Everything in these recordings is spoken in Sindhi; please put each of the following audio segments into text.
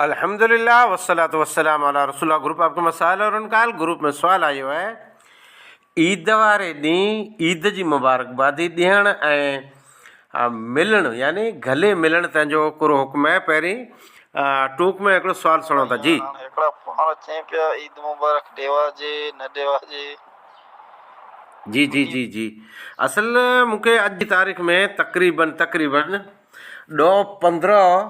الحمدللہ والصلوۃ والسلام علی رسول اللہ گروپ آپ کا مسائل اور ان کا حل گروپ ۾ سوال آيو آهي عيد واري ڏينهن عيد جي مبارڪبادي ڏيڻ ۽ ملڻ يعني گلي ملڻ تنهن جو ڪهڙو حڪم آهي پهرين ٽوڪ ۾ هڪڙو سوال سڻو ٿا جي. هڪڙا پاڻ اچين پيا عيد مبارڪ ڏيواجي نه ڏيواجي. جي جي جي جي اصل مونکي اڄ جي تاريخ ۾ تقريبن تقريبن ڏهه پندرهن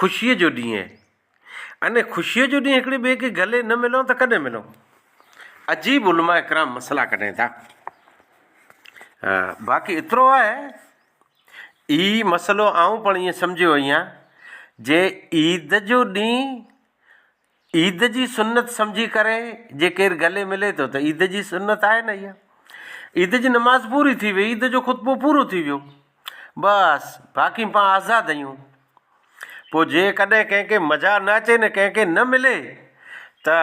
خوشيء جو ڏينهن اهي اني خوشيء جو ڏينهن هڪڙي ٻئي کي گلي نه ملون ته ڪڏهن ملون عجيب علماء ڪرام مسئلا ڪڍين ٿا باقي ايترو آهي هي مسئلو آئون پڻ ائين سمجهيو اهيان جي عيد جو ڏينهن عيد جي سنت سمجهي ڪري جي ڪير گلي ملي ٿو ته عيد جي سنت آهي نه اها. عيد جي نماز پوري ٿي وئي، عيد جو خطبو پورو ٿي ويو. بس باقي پان آزاد اهيون. پوء جي ڪڏهن ڪنهن کي مزا نه اچي نه ڪنهن کي نه ملي ته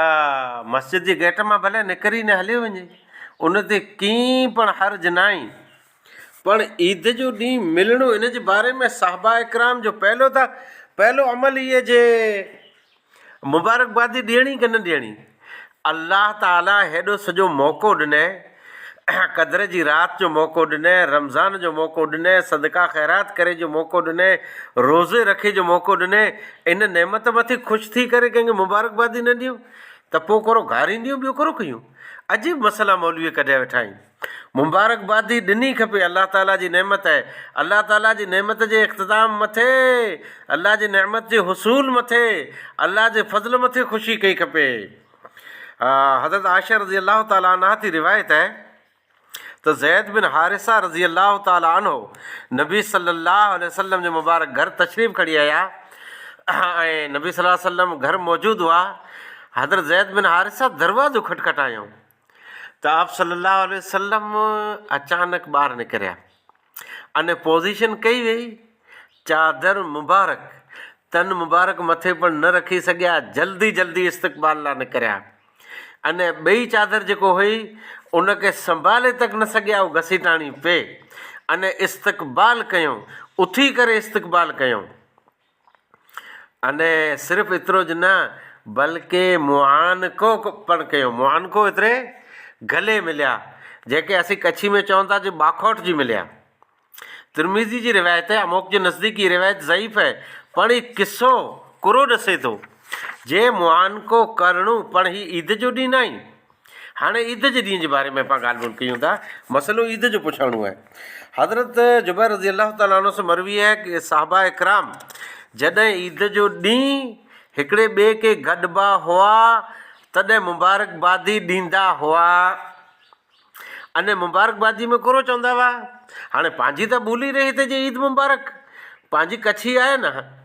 مسجد جي گيٽ مان ڀلي نڪري نه هليو وڃي. ان تي ڪي پڻ حرج ناهي. پڻ عيد جو ڏينهن ملڻو ان جي باري ۾ صحابه اڪرام جو پهلو ته پهلو عمل هي جي مبارڪبادي ڏيڻي ڪي نه ڏيڻي. الله تعاليٰ هيڏو سڄو موقعو ڏنئي، قدر جي رات جو موقعو ڏنئي، رمضان جو موقعو ڏنئي، صدقه خيرات ڪري جو موقعو ڏنئي، روزي رکي جو موقعو ڏنئي، ان نعمت مٿي خوش ٿي ڪري ڪنهن کي مبارڪبادي نه ڏيون ته پوء ڪورو گارينديون ٻيو ڪورو ڪيون. عجيب مسئلا مولويء ڪڍيا ويٺا آهن. مبارڪبادي ڏني کپي الله تعالي جي نعمت اهي الله تعالي جي نعمت جي اختتام مٿي الله جي نعمت جي حصول مٿي الله جي فضل مٿي خوشي ڪئي کپي حضرت عائشه رضي الله تعالي عنها تي روايت اهي ته زيد بن حارثه رضي الله تعالي عنه نبي صلي الله عليه وسلم جي مبارڪ گهر تشريف کڻي آيا ۽ نبي صلي الله عليه وسلم گهر موجود هئا حضرت زيد بن حارثه دروازو کٽکٽايو ته آپ صلّي اللّٰه عليه وسلّم اچانڪ ٻاهر نڪريا ان پوزيشن ڪئي وئي چادر مبارڪ تن مبارڪ مٿي پڻ نه رکي سگهيا جلدي جلدي استقبال لاء نڪريا ان ٻئي چادر جيڪو هئي ان کي سنڀالي تڪ نه سگهيا هو گسيٽاڻي پئي ان استقبال ڪيو اٿي ڪري استقبال ڪيو انهيء صرف ايترو ئي نه بلڪ معانڪو پڻ ڪيو. معانڪو ايتري گلي مليا، جنهن کي اسين ڪڇي ۾ چون ٿا جو باکوٽ جي مليا. ترمذي جي روايت آهي، اموڪ جي نزديڪ هيء روايت ضعيف آهي، پڻ هيء قصو ڪرو ڏسي ٿو، جي معانڪو ڪرڻو پڻ هيء عيد جو ڏينهن ناهي، هاڻي عيد جي ڏينهن جي باري ۾ اسان ڳالهه ٻولهه ڪيون ٿا. مسئلو عيد جو پڇاڻو آهي. حضرت جبير رضي الله تعالٰي عنه سون مروي آهي ته صحابه ڪرام جڏهن عيد جو ڏينهن هڪڙي ٻئي کي گڏبا هئا تڏهن مبارڪبادي ڏيندا هئا ۽ مبارڪبادي ۾ ڪورو چوندا هئا. هاڻي پنهنجي ته ٻولي رهي ته جي عيد مبارڪ پنهنجي ڪڇي آهي نه.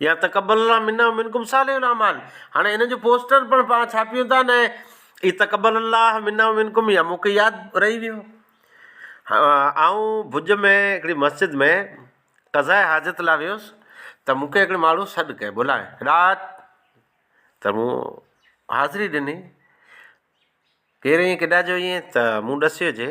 يا تقبل الله منا ومنکم صالح الاعمال هاڻي ان جو پوسٽر پڻ پاڻ ڇاپيون ٿا نه اي تقبل الله منا ومنکم يا مون کي ياد رهي ويو آئون ڀج ۾ هڪڙي مسجد ۾ قضاء حاجت لاء ويس ته مون کي هڪڙي ماڻهو سڏ ڪيو بلائي رات ته مون حاضري ڏني ڪير ائين ڪيڏانهن جو ائين ته مون ڏسيو جي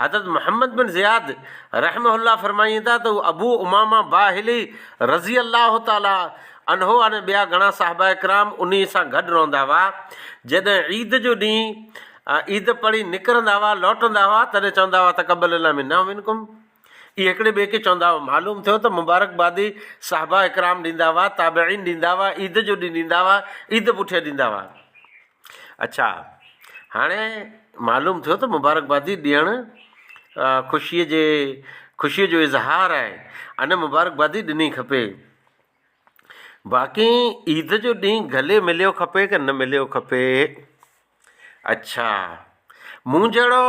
حضرت محمد بن زياد رحمه الله فرمائين ٿا ته ابو امامه باهلي رضي الله تعالٰي عنه ۽ ٻيا گهڻا صحابه ڪرام انهي سان گڏ رهندا هئا. جڏهن عيد جو ڏينهن عيد پڙهي نڪرندا هئا، لوٽندا هئا، تڏهن چوندا هئا تقبل الله منا ومنڪم. اهي هڪڙي ٻئي کي چوندا هئا. معلوم ٿيو ته مبارڪبادي صحابه ڪرام ڏيندا هئا، تابعين ڏيندا هئا، عيد جو ڏينهن ڏيندا هئا، عيد پٺيان ڏيندا هئا. اڇا هاڻي معلوم ٿيو ته مبارڪبادي ڏيڻ خوشيء جي خوشيء جو اظهار آهي ان مبارڪبادي ڏني کپي باقي عيد جو ڏينهن گلي مليو کپي ڪي نه مليو کپي اڇا مون جهڙو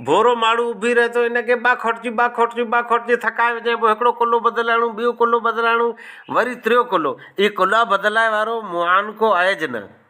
ڀورو ماڻهو اڀي رهي ٿو ان کي ٻه کوٽجي ٻه کوٽجي ٻه کوٽجي ٿڪائي وجهي پوء هڪڙو ڪلو بدلائڻو ٻيو ڪلو بدلائڻو وري ٽيو ڪلو هي ڪلها بدلائي وارو معانڪو آهج نه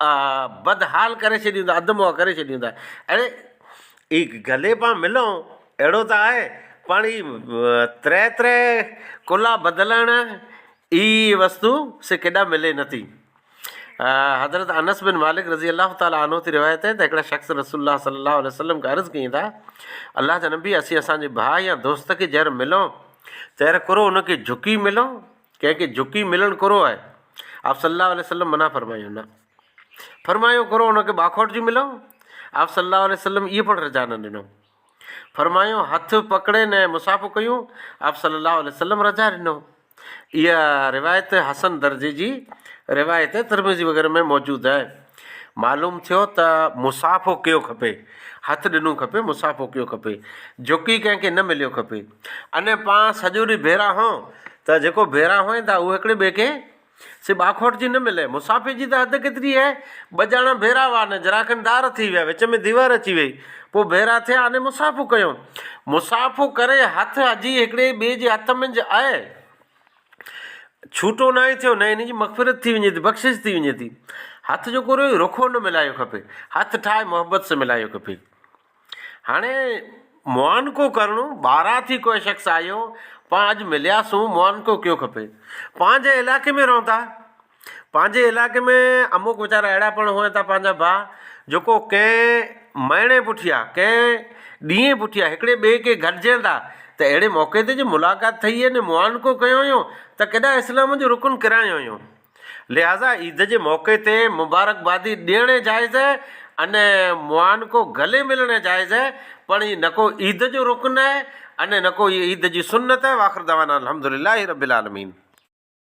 بدحال ڪري ڇڏيون ٿا اڌ منهه ڪري ڇڏيون ٿا اڙي هي گلي پان ملئون اهڙو ته آهي پاڻ هي تري تري ڪلها بدلڻ هي وستو سي ڪيڏا ملي نه ٿي حضرت انس بن مالڪ رضي الله تعالٰي عنه تي روايت آهي ته هڪڙا شخص رسول الله صلي الله عليه وسلم کي عرض ڪيائين ته الله جا نبي اسين اسان جي ڀاء يا دوست کي جر ملئون تر ڪرو ان کي جهڪي ملئون ڪنهن کي جهڪي ملڻ ڪورو آهي. آپ صلّي اللّٰه عليه وسلّم منع فرمايو، نه فرمايو ڪورو ان کي ٻاکوٽ جي ملو، آپ صلّي اللّٰه عليه وسلّم اهي پڻ رضا نه ڏنو. فرمايو هٿ پڪڙين ۽ مصافحو ڪيون، آپ صلّي اللّٰه عليه وسلّم رضا ڏنو. اها روايت حسن درجي جي روايت ترمذي وغيره ۾ موجود آهي. معلوم ٿيو ته مصافحو ڪيو کپي، هٿ ڏنو کپي، مصافحو ڪيو کپي، جهڪي ڪنهن کي نه مليو کپي. ان پان سڄو ڏينهن ڀيرا هون ته جيڪو ڀيرا هئين ٿا اهو هڪڙي ٻئي کي سي ٻاکوٽ جي نه ملي. مصافحي جي ته حد ڪيتري هي، ٻه ڄاڻا ڀيرا هئا نه جراڪن دار ٿي ويا، وچ ۾ ديوار اچي وئي، پوء ڀيرا ٿيا اني مصافحو ڪيو. مصافحو ڪري هٿ اجهي هڪڙي ٻئي جي هٿ منجهه اهي. ڇوٽو ناهي ٿيو، نه هن جي مغفرت ٿي وڃي ٿي، بخشش ٿي وڃي ٿي. هٿ جيڪو رهيو، رخو نه ملائيو کپي. هٿ ٺاهي محبت سان ملائيو کپي. هاڻي معانقو ڪرڻو، ٻاهران ٿي ڪوئي شخص آيو، پاڻ اڄ ملياسون، معانقو ڪيو کپي. پنهنجي علائقي ۾ رهون ٿا. پنهنجي علائقي ۾ اموڪ ويچارا اهڙا پڻ هئا ته پنهنجا ڀاء جيڪو ڪنهن مهيني پٺيان ڪنهن ڏينهن پٺيان هڪڙي ٻئي کي گڏجين ٿا ته اهڙي موقعي تي جي ملاقات ٿئي هئي ني معانڪو ڪيو هيون ته ڪيڏا اسلام جو رڪن ڪرايون هيون لهٰذا عيد جي موقعي تي مبارڪبادي ڏيڻ ئي جائز آهي ان معانڪو گلي ملڻ ئي جائز آهي پڻ هي نه ڪو عيد جو رڪن آهي ان نه ڪو هي عيد جي سنت آهي واخر دعوانا الحمدللّٰه رب العالمين.